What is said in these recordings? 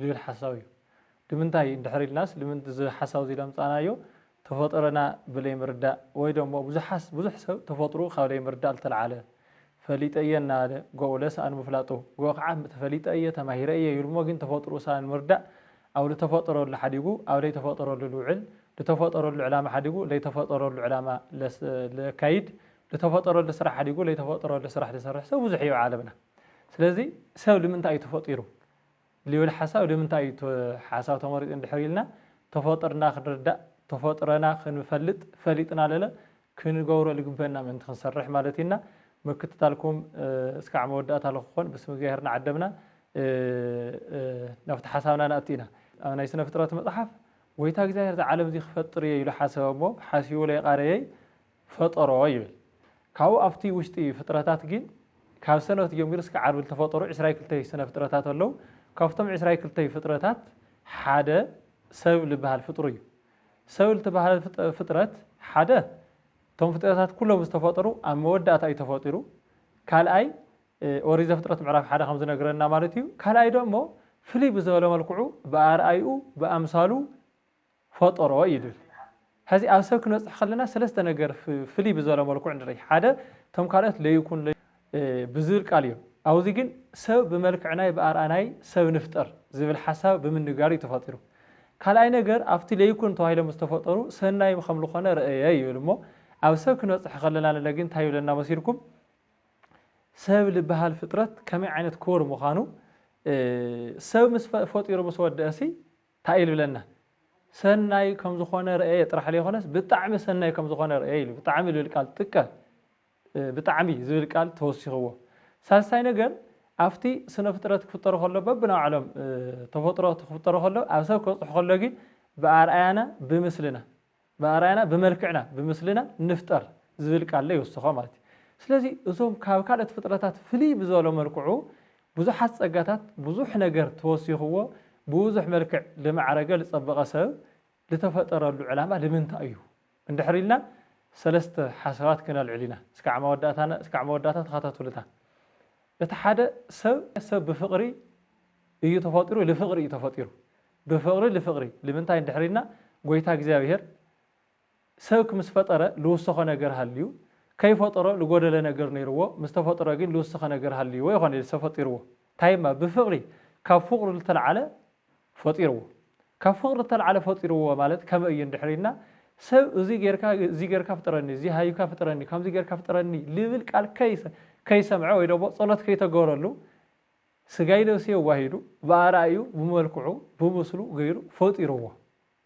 ዝብል ሓሳው እዩ ድምንታይ እንድሕር ኢልናስ ድምንት እዚ ሓሳው እዚ ለምጻናዮ ተፈጥሮና ብለይ ምርዳእ ወይ ደሞ ብዙሓስ ብዙሕ ሰብ ተፈጥርኡ ካብ ለይ ምርዳእ ልተልዓለ ፈሊጠ እየ እናበለ ጎኡ ለሰኣን ምፍላጡ ጎኡ ክዓ ተፈሊጠ እየ ተማሂረ እየ ይብል እሞ ግን ተፈጥርኡ ሰኣን ምርዳእ ኣብ ልተፈጠረሉ ሓዲጉ ኣብ ለይ ተፈጠረሉ ልውዕል ልተፈጠረሉ ዕላማ ሓዲጉ ለይ ተፈጠረሉ ዕላማ ለካይድ ልተፈጠረሉ ስራሕ ሓዲጉ ለይ ተፈጠረሉ ስራሕ ልሰርሕ ሰብ ብዙሕ እዩ ኣብ ዓለምና ስለዚ ሰብ ልምንታይ እዩ ተፈጢሩ ልብል ሓሳብ ልምንታይ እዩ ሓሳብ ተመሪፁ እንድሕር ኢልና ተፈጥርና ክንርዳእ ተፈጥረና ክንፈልጥ ፈሊጥና ለለ ክንገብሮ ልግበእና ምእንቲ ክንሰርሕ ማለት እዩ እና ምክትታልኩም እስካዕ መወዳእታ ልክኮን ብስም እግዚኣብሔር ናዓደምና ናብቲ ሓሳብና ናእቲ ኢና። ኣብ ናይ ስነ ፍጥረት መፅሓፍ ጎይታ እግዚኣብሔር እዚ ዓለም እዚ ክፈጥር እየ ኢሉ ሓሰበ እሞ ሓሲቡ ለይቓረየይ ፈጠሮ ይብል ካብኡ ኣብቲ ውሽጢ ፍጥረታት ጊን ካብ ሰንበት ጀሚሩ እስከ ዓርቢ ልተፈጠሩ ዕስራይ ክልተይ ስነ ፍጥረታት ኣለው ካብቶም ዕስራይ ክልተይ ፍጥረታት ሓደ ሰብ ልበሃል ፍጥሩ እዩ ሰብ ልትበሃል ፍጥረት ሓደ እቶም ፍጥረታት ኩሎም ዝተፈጠሩ ኣብ መወዳእታ እዩ ተፈጢሩ ካልኣይ ኦሪት ዘፍጥረት ምዕራፍ ሓደ ከም ዝነግረና ማለት እዩ ካልኣይ ደሞ ፍልይ ብዝበለ መልክዑ ብኣርኣይኡ ብኣምሳሉ ፈጠሮ ይብል። ሐዚ ኣብ ሰብ ክንበፅሕ ከለና ሰለስተ ነገር ፍልይ ብዝበለ መልክዑ ንርኢ። ሓደ እቶም ካልኦት ለይኩን ብዝብል ቃል እዮም። ኣብዚ ግን ሰብ ብመልክዕናይ ብኣርኣናይ ሰብ ንፍጠር ዝብል ሓሳብ ብምንጋር እዩ ተፈጢሩ። ካልኣይ ነገር ኣብቲ ለይኩን ተባሂሎም ዝተፈጠሩ ሰናይ ከም ልኾነ ረእየ ይብል እሞ ኣብ ሰብ ክንበፅሕ ከለና ንለ ግን እንታይ ይብለና መሲልኩም ሰብ ልበሃል ፍጥረት ከመይ ዓይነት ክቡር ምዃኑ ሰብ ምስ ፈጢሩ ምስ ወደእሲ ታይ ይልብለና ሰናይ ከምዝኾነ ረኤየ ጥራሕ ለይኾነስ ብጣዕሚ ሰናይ ከምዝኾነ ረኤየ ኢሉ ብጣዕሚ ልብል ቃል ጥቀ ብጣዕሚ ዝብል ቃል ተወሲኽዎ ሳልሳይ ነገር ኣፍቲ ስነፍጥረት ክፍጠሩ ከሎ በብናባዕሎም ተፈጥሮ ክፍጠሩ ከሎ ኣብ ሰብ ከብፅሑ ከሎ ጊን ብኣርኣያና ብምስልና ብኣርኣያና ብመልክዕና ብምስልና ንፍጠር ዝብል ቃል ዶ ይውስኾ ማለት እዩ። ስለዚ እዞም ካብ ካልኦት ፍጥረታት ፍልይ ብዝበለ መልክዑ ብዙሓት ጸጋታት ብዙሕ ነገር ተወሲኽዎ ብብዙሕ መልክዕ ልማዕረገ ልጸበቐ ሰብ ልተፈጠረሉ ዕላማ ልምንታይ እዩ እንድሕር ኢልና ሰለስተ ሓሳባት ክነልዕል ኢና እስካዕ መወዳእታ ተኸታተሉታ እቲ ሓደ ሰብ ሰብ ብፍቕሪ እዩ ተፈጢሩ ልፍቕሪ እዩ ተፈጢሩ ብፍቕሪ ልፍቕሪ ልምንታይ እንድሕር ኢልና ጎይታ እግዚኣብሔር ሰብ ክምስ ፈጠረ ልውሰኾ ነገር ሃልዩ ከይፈጠሮ ልጎደለ ነገር ነይርዎ ምስ ተፈጠሮ ግን ልውሰኸ ነገር ሃልይዎ ይኾን ኢልሰ ፈጢርዎ ታይ እማ ብፍቕሪ ካብ ፍቕሩ ልተልዓለ ፈጢርዎ ካብ ፍቕሪ ልተልዓለ ፈጢርዎ ማለት ከመይ እዩ እንድሕር ኢልና ሰብ እዙይ ገይርካ እዙይ ገይርካ ፍጠረኒ እዙይ ሃይብካ ፍጠረኒ ከምዙይ ገይርካ ፍጠረኒ ልብል ቃል ከይሰምዐ ወይ ደሞ ጸሎት ከይተገበረሉ ስጋይ ነብሲ የዋሂዱ ብኣርኣይኡ ብመልክዑ ብምስሉ ገይሩ ፈጢርዎ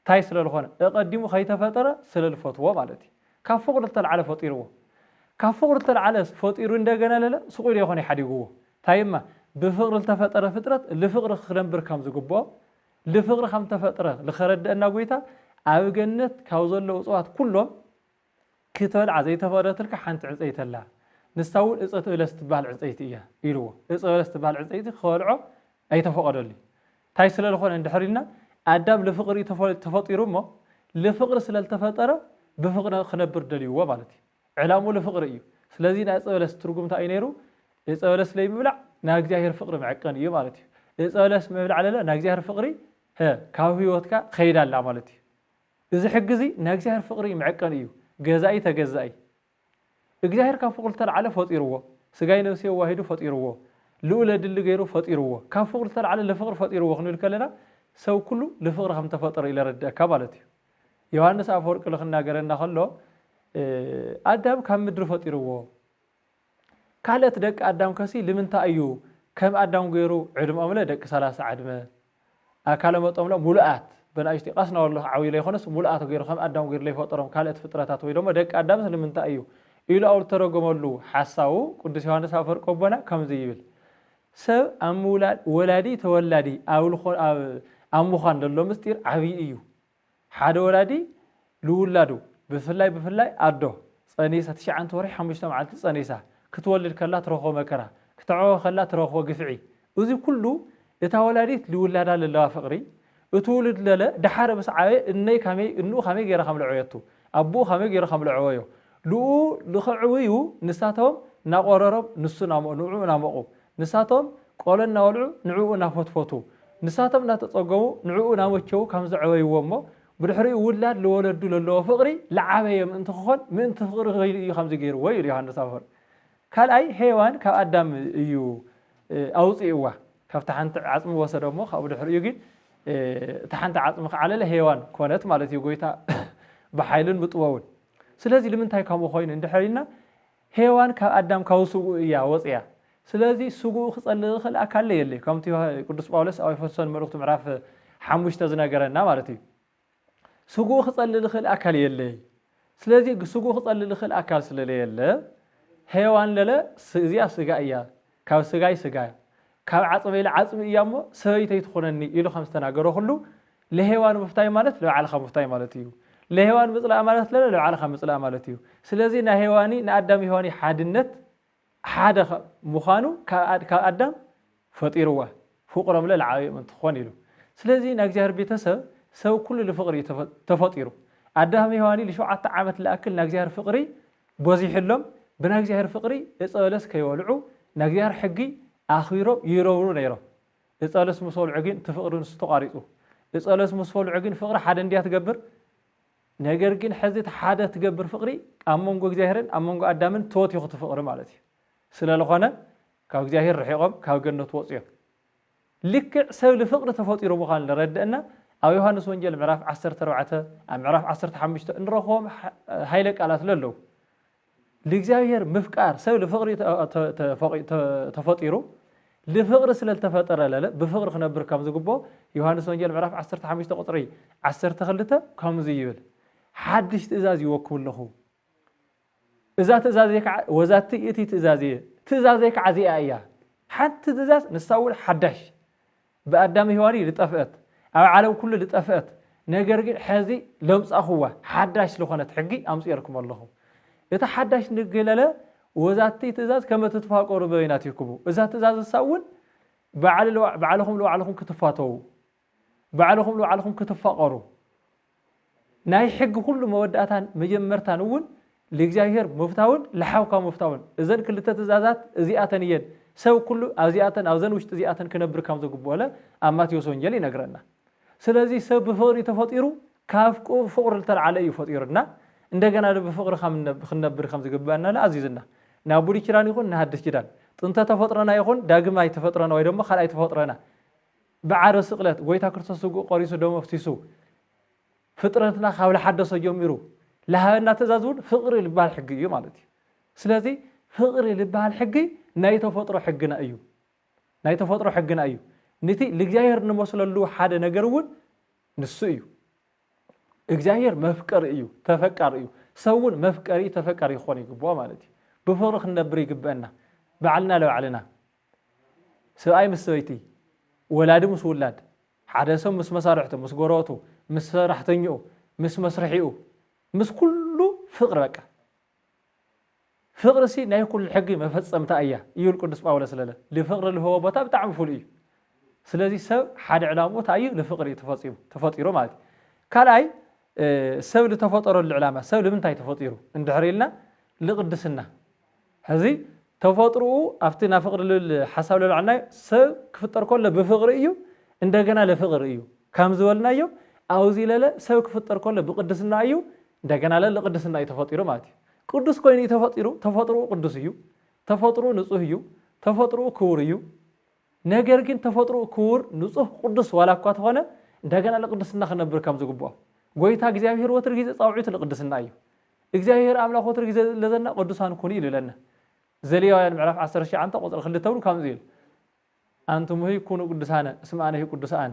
ታይ ስለልኾነ እቐዲሙ ከይተፈጠረ ስለልፈትዎ ማለት እዩ ካብ ፍቕሩ ልተልዓለ ፈጢርዎ ካብ ፍቕሩ ልተልዓለ ፈጢሩ እንደገና ለለ ስቑኢሉ ኣይኾነይ ሓዲግዎ ታይ እማ ብፍቕሪ ልተፈጠረ ፍጥረት ልፍቕሪ ክክነብር ከም ዝግብኦ ልፍቕሪ ከም ተፈጥረ ልኸረደእና ጎይታ ኣብ ገነት ካብ ዘለዉ እፅዋት ኩሎም ክትበልዓ ዘይተፈቕደትልካ ሓንቲ ዕንጸይቲ ኣላ፣ ንሳ እውን እጸት በለስ እትበሃል ዕንጸይቲ እያ ኢልዎ። እጸ በለስ እትበሃል ዕንጸይቲ ክበልዖ ኣይተፈቐደሉ እዩ። እንታይ ስለ ልኾነ እንድሕር ኢልና ኣዳም ልፍቕሪ እዩ ተፈጢሩ እሞ ልፍቕሪ ስለ ልተፈጠረ ብፍቕሪ ክነብር ደልዩዎ ማለት እዩ። ዕላምኡ ልፍቕሪ እዩ። ስለዚ ናይ እጸ በለስ ትርጉም እንታይ እዩ ነይሩ? እጸ በለስ ለይምብላዕ ናብ እግዚኣብሔር ፍቕሪ ምዕቀን እዩ ማለት እዩ። እጸ በለስ ምብላዕ ለለ ናብ እግዚኣብሔር ፍቕሪ ካብ ህይወትካ ከይዳ ኣላ ማለት እዩ። እዚ ሕጊ እዚ ናይ እግዚኣብሔር ፍቅሪ መዐቀኒ እዩ ገዛኢ ተገዛኢ እግዚኣብሔር ካብ ፍቅሩ ዝተልዓለ ፈጢርዎ ስጋይ ነብሰይ ኣዋሂዱ ፈጢርዎ ልኡለ ድሊ ገይሩ ፈጢርዎ ካብ ፍቅሩ ዝተልዓለ ልፍቅሪ ፈጢርዎ ክንብል ከለና ሰብ ኩሉ ልፍቅሪ ከም ዝተፈጠረ እዩ ለረድእካ ማለት እዩ ዮሃንስ ኣፈወርቂ ልክናገረና ከሎ ኣዳም ካብ ምድሪ ፈጢርዎ ካልእት ደቂ ኣዳም ከሲ ልምንታይ እዩ ከም ኣዳም ገሩ ዕድምኦምለ ደቂ ሰላሳ ዕድመ ኣካለ መጦምለ ሙሉኣት በናእሽቲ ቃስና ወሎ ዓብዩ ለይኮነስ ሙሉኣት ገሩ ከም ኣዳም ገሩ ለይፈጠሮም ካልእት ፍጥረታት ወይ ደሞ ደቂ ኣዳምስ ልምንታይ እዩ ኢሉ ኣብ ልተረጎመሉ ሓሳዉ ቅዱስ ዮሃንስ ኣፈወርቅ ኣቦና ከምዚ ይብል ሰብ ኣብ ምውላድ ወላዲ ተወላዲ ኣብ ልኾ ኣብ ምዃን ለሎ ምስጢር ዓብዪ እዩ ሓደ ወላዲ ልውላዱ ብፍላይ ብፍላይ ኣዶ ጸኒሳ ትሽዓንተ ወርሒ ሓሙሽተ መዓልቲ ጸኒሳ ክትወልድ ከላ ትረኽቦ መከራ ክተዕወ ከላ ትረኽቦ ግፍዒ እዚ ኩሉ እታ ወላዲት ልውላዳ ለለዋ ፍቅሪ እቲ ውሉድ ለለ ደሓር ምስ ዓበየ እነይ ካመይ እንኡ ካመይ ገይራ ከምለዐወየቱ ኣቡኡ ካመይ ገይሩ ከምለዐወዮ ልኡ ልኸዕውዩ ንሳቶም ናቆረሮም ንሱ ናሞ ንዑ ናሞቑ ንሳቶም ቆሎ እናበልዑ ንዕኡ ናፈትፈቱ ንሳቶም እናተጸገሙ ንዕኡ ናመቸዉ ካም ዘዕበይዎ እሞ ብድሕሪኡ ውላድ ልወለዱ ለለዎ ፍቕሪ ልዓበየ ምእንቲ ክኾን ምእንቲ ፍቕሪ ክይሉ እዩ ካምዚ ገይርዎ ይብል ዮሃንስ ኣፈወርቅ ካልኣይ ሄዋን ካብ ኣዳም እዩ ኣውጽእዋ ካብቲ ሓንቲ ዓጽሚ ወሰደ እሞ ካብኡ ድሕሪኡ ግን እቲ ሓንቲ ዓጽሚ ክዓለለ ሄዋን ኮነት ማለት እዩ ጎይታ ብሓይልን ብጥበቡን ስለዚ ልምንታይ ከምኡ ኮይኑ እንድሕር ኢልና ሄዋን ካብ ኣዳም ካብ ስግኡ እያ ወጽያ ስለዚ ስግኡ ክጸልእ ዝኽእል ኣካለ የለ ከምቲ ቅዱስ ጳውሎስ ኣብ ኤፌሶን መልእኽቱ ምዕራፍ ሓሙሽተ ዝነገረና ማለት እዩ ስግኡ ክጸልእ ዝኽእል ኣካል የለይ ስለዚ ስግኡ ክጸልእ ዝኽእል ኣካል ስለለየለ ሄዋን ለለ እዚኣ ስጋ እያ ካብ ስጋይ ስጋያ፣ ካብ ዓጽመይለ ዓጽሚ እያ እሞ ሰበይተይ ትኹነኒ ኢሉ ከም ዝተናገሮ ኩሉ፣ ለሄዋን ምፍታይ ማለት ለባዕልኻ ምፍታይ ማለት እዩ። ለሄዋን ምጽላእ ማለት ለለ ለባዕልኻ ምጽላእ ማለት እዩ። ስለዚ ናይ ሄዋኒ ንኣዳም ሄዋኒ ሓድነት ሓደ ምዃኑ ካብ ካብ ኣዳም ፈጢርዋ ፍቁሮምለ ለዓብየ ምእንቲ ክኾን ኢሉ። ስለዚ ናይ እግዚኣብሔር ቤተሰብ ሰብ ኩሉ ልፍቅሪ እዩ ተፈ ተፈጢሩ። ኣዳም ሄዋኒ ልሸውዓተ ዓመት ልኣክል ናይ እግዚኣብሔር ፍቅሪ ጎዚሑሎም ብናይ እግዚኣብሔር ፍቅሪ እፀ በለስ ከይበልዑ ናይ እግዚኣብሔር ሕጊ ኣክቢሮም ይረብሩ ነይሮም እፀ በለስ ምስ በልዑ ግን እቲ ፍቅሪ ንሱ ተቋሪፁ እፀ በለስ ምስ በልዑ ግን ፍቅሪ ሓደ እንድያ ትገብር ነገር ግን ሕዚ እቲ ሓደ ትገብር ፍቅሪ ኣብ መንጎ እግዚኣብሔርን ኣብ መንጎ ኣዳምን ተወቲኹ እቲ ፍቅሪ ማለት እዩ ስለዝኾነ ካብ እግዚኣብሔር ርሒቆም ካብ ገነት ወፅዮም ልክዕ ሰብ ልፍቅሪ ተፈጢሩ ምዃኑ ለረድእና ኣብ ዮሃንስ ወንጌል ምዕራፍ ዓሰርተ ኣርባዕተ ኣብ ምዕራፍ ዓሰርተ ሓሙሽተ እንረኽቦም ሃይለ ቃላት ለለው ልእግዚኣብሔር ምፍቃር ሰብ ልፍቅሪ ተፈጢሩ ልፍቅሪ ስለልተፈጠረ ለለ ብፍቅሪ ክነብር ከም ዝግብኦ ዮሃንስ ወንጌል ምዕራፍ ዓሰርተ ሓሙሽተ ቁፅሪ ዓሰርተ ክልተ ከምዙይ ይብል ሓድሽ ትእዛዝ ይወክብ ኣለኹ እዛ ትእዛዘይ ከዓ ወዛቲ እቲ ትእዛዝ እየ ትእዛዘይ ከዓ እዚኣ እያ ሓንቲ ትእዛዝ ንሳ እውን ሓዳሽ ብኣዳም ሔዋን ልጠፍአት ኣብ ዓለም ኩሉ ልጠፍአት ነገር ግን ሐዚ ለምፃኹዋ ሓዳሽ ዝኾነት ሕጊ ኣምፅኤልኩም ኣለኹ እቲ ሓዳሽ ንግለለ ወዛቲ ትእዛዝ ከመ ትትፋቀሩ በይናቲክሙ እዛ ትእዛዝ ንሳ እውን ባዕልኹም ልባዕልኹም ክትፋተዉ ባዕልኹም ንባዕልኹም ክትፋቐሩ ናይ ሕጊ ኩሉ መወዳእታን መጀመርታን እውን ልእግዚኣብሔር ምፍታውን ልሓውካ ምፍታውን እዘን ክልተ ትእዛዛት እዚኣተን እየን ሰብ ኩሉ ኣብዚኣተን ኣብዘን ውሽጢ እዚኣተን ክነብር ከም ዘግብኦለ ኣብ ማቴዎስ ወንጌል ይነግረና ስለዚህ ሰብ ብፍቕሪ ተፈጢሩ ካብ ፍቕሪ ልተልዓለ እዩ ፈጢሩና እንደገና ብፍቕሪ ክንነብር ከም ዝግብአና ኣዚዝና ናብ ብሉይ ኪዳን ይኹን ንሃድስ ኪዳን ጥንተ ተፈጥሮና ይኹን ዳግማይ ተፈጥሮና ወይ ደሞ ካልኣይ ተፈጥሮና ብዓረ ስቅለት ጎይታ ክርስቶስ ስግኡ ቆሪሱ ደሙ ኣፍሲሱ ፍጥረትና ካብ ልሓደሶ ጀሚሩ ልሃበና ትእዛዝ እውን ፍቅሪ ልበሃል ሕጊ እዩ ማለት እዩ ስለዚ ፍቅሪ ልበሃል ሕጊ ናይ ተፈጥሮ ሕግና እዩ ናይ ተፈጥሮ ሕግና እዩ ንቲ ልእግዚኣብሔር ንመስለሉ ሓደ ነገር እውን ንሱ እዩ እግዚኣብሔር መፍቀሪ እዩ ተፈቃሪ እዩ ሰብ እውን መፍቀሪ ተፈቃሪ ክኾን ይግብኦ ማለት እዩ ብፍቅሪ ክንነብር ይግበአና ባዕልና ለባዕልና ስብኣይ ምስ ሰበይቲ፣ ወላዲ ምስ ውላድ፣ ሓደ ሰብ ምስ መሳርሕቱ፣ ምስ ጎረበቱ፣ ምስ ሰራሕተኝኡ፣ ምስ መስርሒኡ፣ ምስ ኩሉ ፍቕሪ በቃ። ፍቕሪሲ ናይ ኩሉ ሕጊ መፈጸምታ እያ ይብል ቅዱስ ጳውሎስ ለለ ልፍቕሪ ልህቦ ቦታ ብጣዕሚ ፍሉይ እዩ። ስለዚ ሰብ ሓደ ዕላምኡ እንታይ እዩ? ልፍቕሪ እዩ ተፈጺሙ ተፈጢሩ ማለት እዩ። ካልኣይ ሰብ ልተፈጠረሉ ዕላማ ሰብ ልምንታይ ተፈጢሩ እንድሕር ኢልና ልቕድስና ሕዚ ተፈጥርኡ ኣብቲ ናብ ፍቅሪ ልብል ሓሳብ ለብዐልናዮ ሰብ ክፍጠር ከሎ ብፍቅሪ እዩ እንደገና ልፍቅር እዩ ካም ዝበልናዮ ኣውዚ ለለ ሰብ ክፍጠር ከሎ ብቅድስና እዩ እንደገና ለ ልቅድስና እዩ ተፈጢሩ ማለት እዩ ቅዱስ ኮይኑ እዩ ተፈጢሩ ተፈጥርኡ ቅዱስ እዩ ተፈጥርኡ ንጹህ እዩ ተፈጥርኡ ክቡር እዩ ነገር ግን ተፈጥርኡ ክቡር ንጹህ ቅዱስ ዋላ እኳ ተኾነ እንደገና ልቅድስና ክነብር ከም ዝግብኦ ጎይታ እግዚኣብሔር ወትር ጊዜ ጻውዒቱ ልቅድስና እዩ እግዚኣብሄር ኣምላኽ ወትሩ ግዜ ለዘና ቅዱሳን ኩኑ ኢሉለና ዘሌዋውያን ምዕራፍ ዓሰርተ ትሽዓንተ ቁጽሪ ክልተ እውን ከምዚ ኢሉ ኣንትሙሂ ኩኑ ቅዱሳነ እስመ ኣነሂ ቅዱስ ኣነ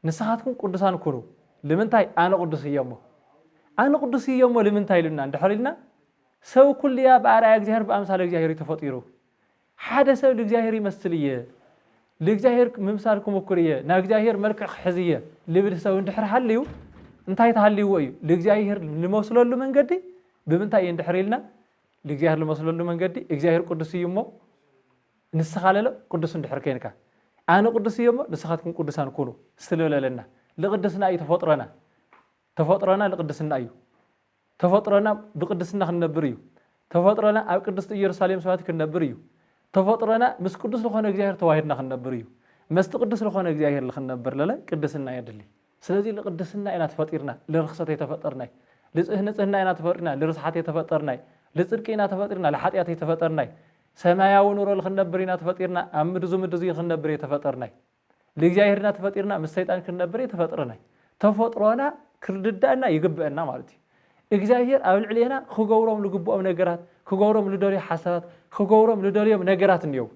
ንስኻትኩም ቅዱሳን ኩኑ ልምንታይ ኣነ ቅዱስ እየ እሞ ኣነ ቅዱስ እየ እሞ ልምንታይ ኢሉና እንድሕር ኢልና ሰብ ኩልያ ብኣርኣያ እግዚኣብሄር ብኣምሳለ እግዚኣብሄር እዩ ተፈጢሩ ሓደ ሰብ ልእግዚኣብሔር ይመስል እየ፣ ልእግዚኣብሔር ምምሳል ክሙኩር እየ፣ ናይ እግዚኣብሔር መልክዕ ክሕዝ እየ ልብል ሰብ እንድሕር ሃልዩ እንታይ ተሃልይዎ እዩ? ልእግዚኣብሔር ልመስለሉ መንገዲ ብምንታይ እዩ እንድሕር ኢልና ልእግዚኣብሔር ልመስለሉ መንገዲ እግዚኣብሔር ቅዱስ እዩ እሞ ንስኻ ለለ ቅዱስ እንድሕር ኮይንካ ኣነ ቅዱስ እየ እሞ ንስኻትኩም ቅዱሳን ኩኑ ስለለለና ልቅድስና እዩ ተፈጥሮና ተፈጥሮና ልቅድስና እዩ ተፈጥሮና ብቅድስና ክንነብር እዩ። ተፈጥሮና ኣብ ቅድስቲ ኢየሩሳሌም ሰማያዊት ክንነብር እዩ። ተፈጥሮና ምስ ቅዱስ ልኾነ እግዚኣብሔር ተዋሂድና ክንነብር እዩ። መስቲ ቅዱስ ልኾነ እግዚኣብሔር ልክንነብር ለለ ቅድስና የድሊ። ስለዚ ልቅድስና ኢና ተፈጢርና ልርክሰት ኣይተፈጠርናይ። ልጽህንጽህና ኢና ተፈጢርና ልርስሓት ኣይተፈጠርናይ። ልጽድቂ ኢና ተፈጢርና ልሓጢኣት ኣይተፈጠርናይ። ሰማያዊ ኑሮ ልክንነብር ኢና ተፈጢርና ኣብ ምድዙ ምድዙ ክንነብር እየተፈጠርናይ። ልእግዚኣብሄር እና ተፈጢርና ምስ ሰይጣን ክንነብር የተፈጥረናይ ተፈጥሮና ክርድዳእና ይግበእና ማለት እዩ እግዚኣብሄር ኣብ ልዕሌና ክገብሮም ልግብኦም ነገራት ክገብሮም ልደልዮ ሓሳባት ክገብሮም ልደልዮም ነገራት እንየው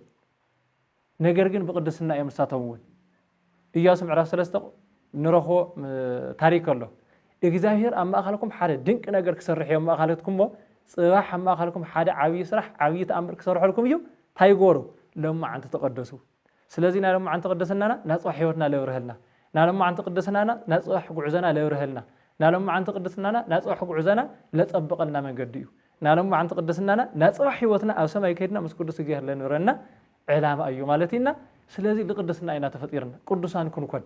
ነገር ግን ብቅድስና እዮም ንሳቶም እውን እያሱ ምዕራፍ ሰለስተ ንረኽቦ ታሪክ ኣሎ እግዚኣብሄር ኣብ ማእካልኩም ሓደ ድንቂ ነገር ክሰርሕ እዮም ማእካለትኩም ሞ ፅባሕ ኣብ ማእካልኩም ሓደ ዓብዪ ስራሕ ዓብዪ ተኣምር ክሰርሐልኩም እዩ እንታይ ይገበሩ ሎማዓንቲ ተቀደሱ ስለዚ ናይ ሎማዓንቲ ቅድስናና ናጽባሕ ሕይወትና ለብርሀልና ናሎማዓንቲ ቅድስናና ናጽባሕ ጉዕዞና ለብርሀልና ናሎማዓንቲ ቅድስናና ናጽባሕ ጉዕዞና ለጸብቀልና መንገዲ እዩ ናሎማዓንቲ ቅድስናና ናጽባሕ ሕይወትና ኣብ ሰማይ ከድና ምስ ቅዱስ እግዚኣሔር ለንብረና ዕላማ እዩ ማለት እዩና ስለዚ ልቅድስና ኢና ተፈጢርና ቅዱሳን ክንኮን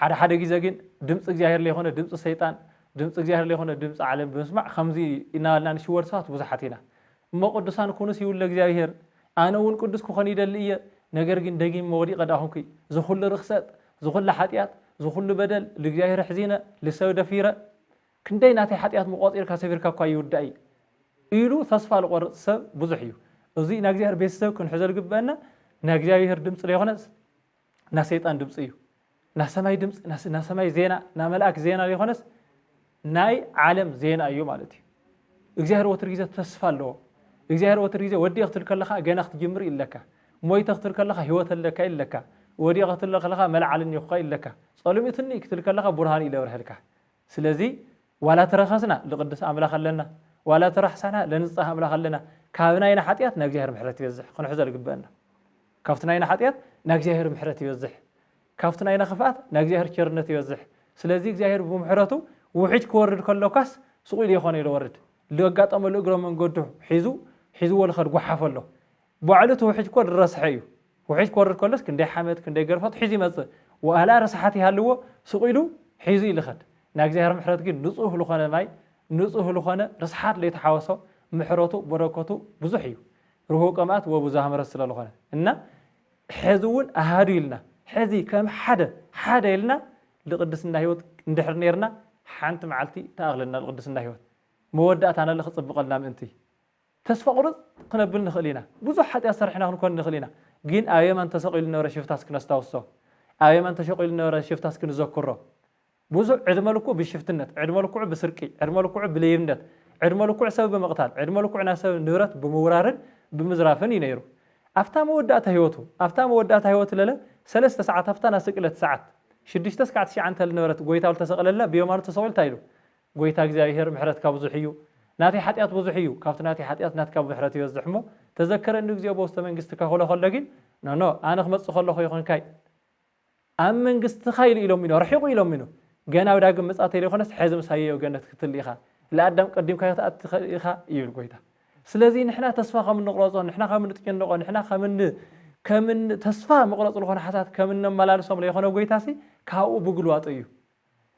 ሓደ ሓደ ግዜ ግን ድምፂ እግዚኣብሔር ለይኮነ ድምፂ ሰይጣን ድምፂ እግዚኣብሔር ለይኮነ ድምፂ ዓለም ብምስማዕ ከምዚ እናበልና ንሽወድ ሰባት ብዙሓት ኢና እሞ ቅዱሳን ኩኑስ ይብሎ እግዚኣብሔር ኣነ እውን ቅዱስ ክኾን ይደሊ እየ ነገር ግን ደጊመ ወዲቀ ድኣ ኹንኩ ዝኹሉ ርኽሰት ዝኹሉ ሓጥያት ዝኹሉ በደል ልእግዚኣብሔር ኣሕዚነ ልሰብ ደፊረ ክንደይ ናተይ ሓጥያት እሞ ቆጺርካ ሰፊርካ እኳ ይውዳእይ ኢሉ ተስፋ ልቆርጽ ሰብ ብዙሕ እዩ እዙይ ናይ እግዚኣብሔር ቤተሰብ ክንሕዞ ልግበአና ናይ እግዚኣብሔር ድምጺ ለይኾነስ ናይ ሰይጣን ድምፂ እዩ ናይ ሰማይ ድምፂ ናይ ሰማይ ዜና ናይ መልኣክ ዜና ዘይኮነስ ናይ ዓለም ዜና እዩ ማለት እዩ እግዚኣብሔር ወትር ግዜ ተስፋ ኣለዎ እግዚኣብሔር ወትር ግዜ ወዲእ ክትብል ከለካ ገና ክትጅምር እዩ ኣለካ ሞይተ ክትብል ከለካ ህይወት ኣለካ እዩ ኣለካ ወዲቀ ክትብል ከለካ መልዓል እኒኹካ እዩ ኣለካ ፀልሚትኒ እዩ ክትብል ከለካ ብርሃን እዩ ለብርሐልካ ስለዚ ዋላ ተረኸስና ልቅድስ ኣምላክ ኣለና ዋላ ተራሕሳና ለንፃህ ኣምላክ ኣለና ካብ ናይና ሓጢኣት ናይ እግዚኣብሔር ምሕረት ይበዝሕ ክንሕዞ ዝግበአና ካብቲ ናይና ሓጢኣት ናይ እግዚኣብሔር ምሕረት ይበዝሕ ካብቲ ናይና ክፍኣት ናይ እግዚኣብሔር ቸርነት ይበዝሕ ስለዚ እግዚኣብሔር ብምሕረቱ ውሕጅ ክወርድ ከሎካስ ስቁ ኢሉ የኮነይ ልወርድ ልኣጋጠመሉ እግረ መንገዱ ሒዙ ሒዝዎ ልኸድ ጓሓፍ ኣሎ ባዕሉ እቲ ውሕጅ እኮ ልረስሐ እዩ ውሕጅ ክወርድ ከሎስ ክንደይ ሓመድ ክንደይ ገርፈት ሒዙ ይመጽእ ዋላ ረስሓት ይሃልዎ ስቁ ኢሉ ሒዙ እዩ ልኸድ ናይ እግዚኣብሔር ምሕረት ግን ንጹህ ልኾነ ማይ ንጹህ ልኾነ ርስሓት ለይተሓወሶ ምሕረቱ በረከቱ ብዙሕ እዩ ርሁው ቀማት ወብዙሃ ምረት ስለልኾነ እና ሐዚ እውን ኣሃዱ ኢልና ሐዚ ከም ሓደ ሓደ ኢልና ልቅድስና ህይወት እንድሕር ነርና ሓንቲ መዓልቲ ተኣኽለና ልቅድስና ህይወት መወዳእታ ነለ ክፅብቐልና ምእንቲ ተስፋ ቁርፅ ክነብል ንኽእል ኢና ብዙሕ ሓጢኣት ሰርሕና ክንኮን ንኽእል ኢና ግን ኣብ የመን ተሰቂሉ ነበረ ሽፍታስ ክነስታውሶ ኣብ የመን ተሸቂሉ ነበረ ሽፍታስ ክንዘክሮ ብዙሕ ዕድመ ልክዑ ብሽፍትነት፣ ዕድመ ልክዑ ብስርቂ፣ ዕድመ ልክዑ ብሌብነት፣ ዕድመ ልክዑ ሰብ ብምቕታል፣ ዕድመ ልክዑ ናይ ሰብ ንብረት ብምውራርን ብምዝራፍን እዩ ነይሩ። ኣብታ መወዳእታ ህይወቱ፣ ኣብታ መወዳእታ ህይወቱ ለለ ሰለስተ ሰዓት፣ ኣብታ ናይ ስቅለት ሰዓት፣ ሽዱሽተ ስካዕ ትሽዓ እንተ ልነበረት ጎይታ ልተሰቕለላ ብየማኑ ተሰቒሉ እንታይ ኢሉ? ጎይታ እግዚኣብሄር ምሕረትካ ብዙሕ እዩ፣ ናተይ ሓጢኣት ብዙሕ እዩ፣ ካብቲ ናተይ ሓጢኣት ናትካ ምሕረት ይበዝሕ እሞ ተዘከረኒ እግዚኦ በውስተ መንግሥትካ ክብሎ ከሎ ግን ኖኖ ኣነ ክመጽእ ከለኹ ይኹንካይ ኣብ መንግስትኻ ኢሉ ኢሎም ኢኖ ርሒቑ ኢሎም ኢኖ ገና ኣብ ዳግም ምጽኣት ተይለይኮነስ ሐዚ ምሳየይ ኣብ ገነት ክትል ኢኻ ለኣዳም ቀዲምካ ክትኣቲ ትኸእል ኢኻ ይብል ጎይታ ስለዚ ንሕና ተስፋ ከም እንቕረጾ ንሕና ከም እንጥጭንቆ ንሕና ከም ከም ተስፋ መቕረጽ ዝኾነ ሓሳት ከም እነመላልሶም ለይኾነ ጎይታሲ ካብኡ ብግልዋጡ እዩ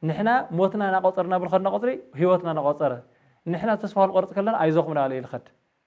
ንሕና ሞትና ናቆጸርና ብልኸድና ቆጽሪ ህይወትና ናቆጸረ ንሕና ተስፋ ክንቆርጽ ከለና ኣይዞኹም ናበለ ይልኸድ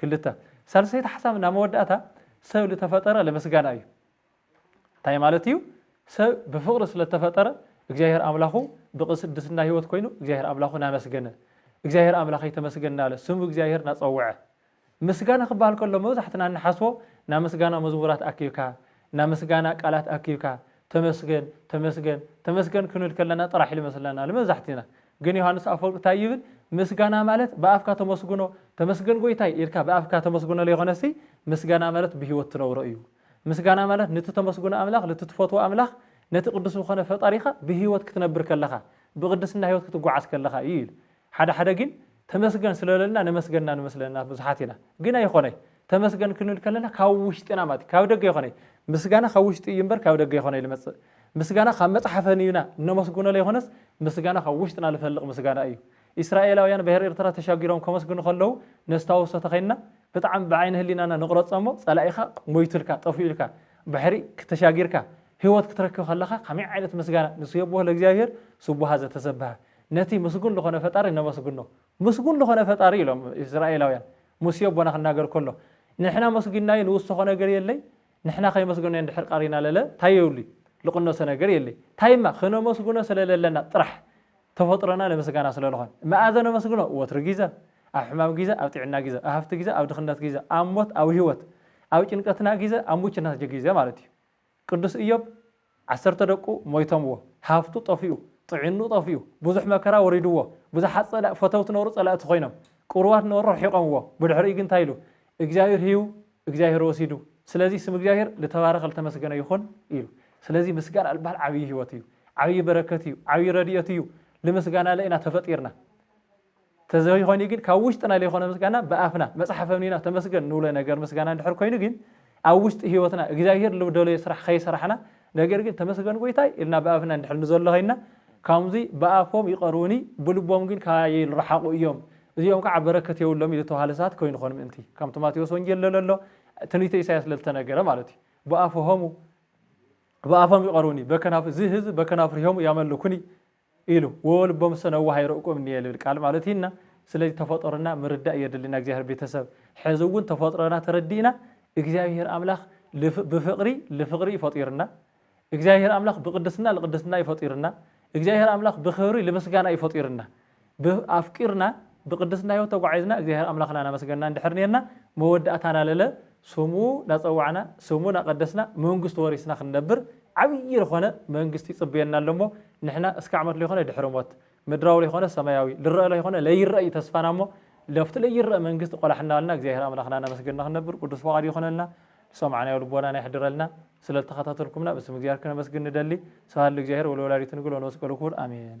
ክልተ፣ ሳልሰይቲ ሓሳብ እና መወዳእታ ሰብ ልተፈጠረ ለምስጋና እዩ። እንታይ ማለት እዩ? ሰብ ብፍቕሪ ስለ እተፈጠረ እግዚኣብሔር ኣምላኹ ብቕስድስና ህይወት ኮይኑ እግዚኣብሔር ኣምላኹ ናመስገነ እግዚኣብሔር ኣምላኸይ ተመስገን እናለ ስሙ እግዚኣብሔር ናጸውዐ ምስጋና ክበሃል ከሎ መብዛሕትና እንሓስቦ ናይ ምስጋና መዝሙራት ኣኪብካ ናይ ምስጋና ቃላት ኣኪብካ ተመስገን ተመስገን ተመስገን ክንብል ከለና ጥራሕ ኢሉ ይመስለና ንመብዛሕቲና። ግን ዮሃንስ ኣፈወርቅ ታይ ይብል ምስጋና ማለት ብኣፍካ ተመስግኖ ተመስገን ጎይታይ ኢልካ ብኣፍካ ተመስግኖ ለይኮነሲ ምስጋና ማለት ብህይወት ትነብሮ እዩ። ምስጋና ማለት ንቲ ተመስግኖ ኣምላኽ ልቲ ትፈትዎ ኣምላኽ ነቲ ቅዱስ ልኾነ ፈጣሪኻ ብህይወት ክትነብር ከለኻ ብቅድስና ህይወት ክትጎዓዝ ከለኻ እዩ ኢሉ። ሓደ ሓደ ግን ተመስገን ስለለና ነመስገና ንመስለና ብዙሓት ኢና ግን ኣይኾነይ ተመስገን ክንብል ከለና ካብ ውሽጥና ማለት ካብ ደገ ኣይኾነይ ምስጋና ካብ ውሽጢ እዩ እምበር ካብ ደገ ኣይኾነይ ልመጽእ ምስጋና ካብ መጽሓፈን እዩና እነመስግኖ ለይኾነስ ምስጋና ካብ ውሽጥና ልፈልቅ ምስጋና እዩ ኢስራኤላውያን ብሄር ኤርትራ ተሻጊሮም ከመስግኑ ከለዉ ነስታውሶ ተኸይንና ብጣዕሚ ብዓይኒ ህሊናና ንቕረጾ እሞ ጸላኢኻ ሞይቱልካ ጠፊኡልካ ባሕሪ ክተሻጊርካ ህይወት ክትረክብ ከለኻ ከመይ ዓይነት ምስጋና ንሱ የቦህ ለእግዚኣብሔር ስቡሃ ዘተሰብሃ ነቲ ምስጉን ልኾነ ፈጣሪ ነመስግኖ። ምስጉን ልኾነ ፈጣሪ ኢሎም እስራኤላውያን ሙሴ ኣቦና ክናገር ከሎ ንሕና መስጒናዩ ንውሰኾ ነገር የለይ ንሕና ከይመስገናዮ እንድሕር ቐሪና ለለ ታይ የብሉይ ልቕነሶ ነገር የለይ ታይማ ክነመስግኖ ስለ ለለና ጥራሕ ተፈጥሮና ንምስጋና ስለ ልኾን መኣዘ ነመስግኖ ወትሩ ጊዘ ኣብ ሕማም ጊዘ ኣብ ጢዕና ጊዘ ኣብ ሃፍቲ ጊዘ ኣብ ድኽነት ጊዘ ኣብ ሞት ኣብ ህይወት ኣብ ጭንቀትና ጊዘ ኣብ ሙችናት ጀጊዘ ማለት እዩ። ቅዱስ እዮብ ዓሰርተ ደቁ ሞይቶምዎ፣ ሃብቱ ጠፊኡ፣ ጥዒንኡ ጠፊኡ፣ ብዙሕ መከራ ወሪድዎ፣ ብዙሓት ጸላ ፈተውቲ ነበሩ ጸላእቲ ኮይኖም፣ ቅሩባት ነበሩ ርሒቖምዎ፣ ብድሕሪኡ ግን እንታይ ኢሉ? እግዚኣብሔር ሂቡ እግዚኣብሔር ወሲዱ፣ ስለዚ ስም እግዚኣብሔር ልተባረኸ ልተመስገነ ይኹን ኢሉ። ስለዚ ምስጋና ልበሃል ዓብዪ ህይወት እዩ፣ ዓብዪ በረከት እዩ፣ ዓብዪ ረድኤት እዩ፣ ልምስጋናለ ኢና ተፈጢርና። ተዘይኾይኑ ግን ካብ ውሽጥና ለይኾነ ምስጋና ብኣፍና መጽሓፍ ኣምኒና ተመስገን ንብሎ ነገር ምስጋና እንድሕር ኮይኑ ግን ኣብ ውሽጢ ህይወትና እግዚኣብሔር ልደለዮ ስራሕ ከይሰራሕና ነገር ግን ተመስገን ጎይታይ ኢልና ብኣፍና እንድሕር ንዘሎ ኮይንና ካምዙይ ብኣፎም ይቐርቡኒ ብልቦም ግን ካባየ ልረሓቑ እዮም እዚኦም ከዓ በረከት የብሎም ኢሉ ተባሃለ ሰባት ኮይንኾን ምእንቲ ከምቲ ማቴዎስ ወንጌል ለለሎ ትንቢተ ኢሳያስ ለልተነገረ ማለት እዩ ብኣፍሆሙ ብኣፎም ይቐርቡኒ በከናፍ እዚ ህዝብ በከናፍርሆሙ ያመልኩኒ ኢሉ ዎዎ ልቦምሰ ነዋህ ኣይረእቁም እንየ ልብል ቃል ማለት እዩ እና ስለዚ ተፈጦርና ምርዳእ የድልና እግዚኣብሔር ቤተሰብ ሐዚ እውን ተፈጥሮና ተረዲእና እግዚኣብሔር ኣምላክ ብፍቅሪ ልፍቅሪ እዩ ፈጢርና እግዚኣብሔር ኣምላክ ብቅድስና ልቅድስና እዩ ፈጢርና እግዚኣብሔር ኣምላክ ብክብሪ ልምስጋና እዩ ፈጢርና ብ ኣፍቂርና ብቅድስና ህይወት ተጓዒዝና እግዚኣብሔር ኣምላክና ናመስገና እንድሕር ነርና መወዳእታና ለለ ስሙ ናጸዋዕና ስሙ ናቀደስና መንግስቱ ወሪስና ክንነብር ዓብዪ ልኾነ መንግስቲ ይጽበየና ኣሎ እሞ ንሕና እስከ ዓመት ለይኾነ ድሕሪ ሞት ምድራዊ ለይኾነ ሰማያዊ ልረእ ለይኾነ ለይረእ እዩ ተስፋና እሞ ለብቲ ለይረእ መንግስቲ ቆላሕ እናበልና እግዚኣብሔር ኣምላኽና እናመስገንና ክንነብር ቅዱስ ፍቃዱ ይኹነልና ዝሰማዕናዮ ልቦናና የሕድረልና ስለ ልተኸታተልኩምና ብስም እግዚኣብሔር ክነመስግን ንደሊ ስብሃት ልእግዚኣብሔር ወለወላዲቱ ንግል ወለመስቀሉ ክቡር ኣሜን።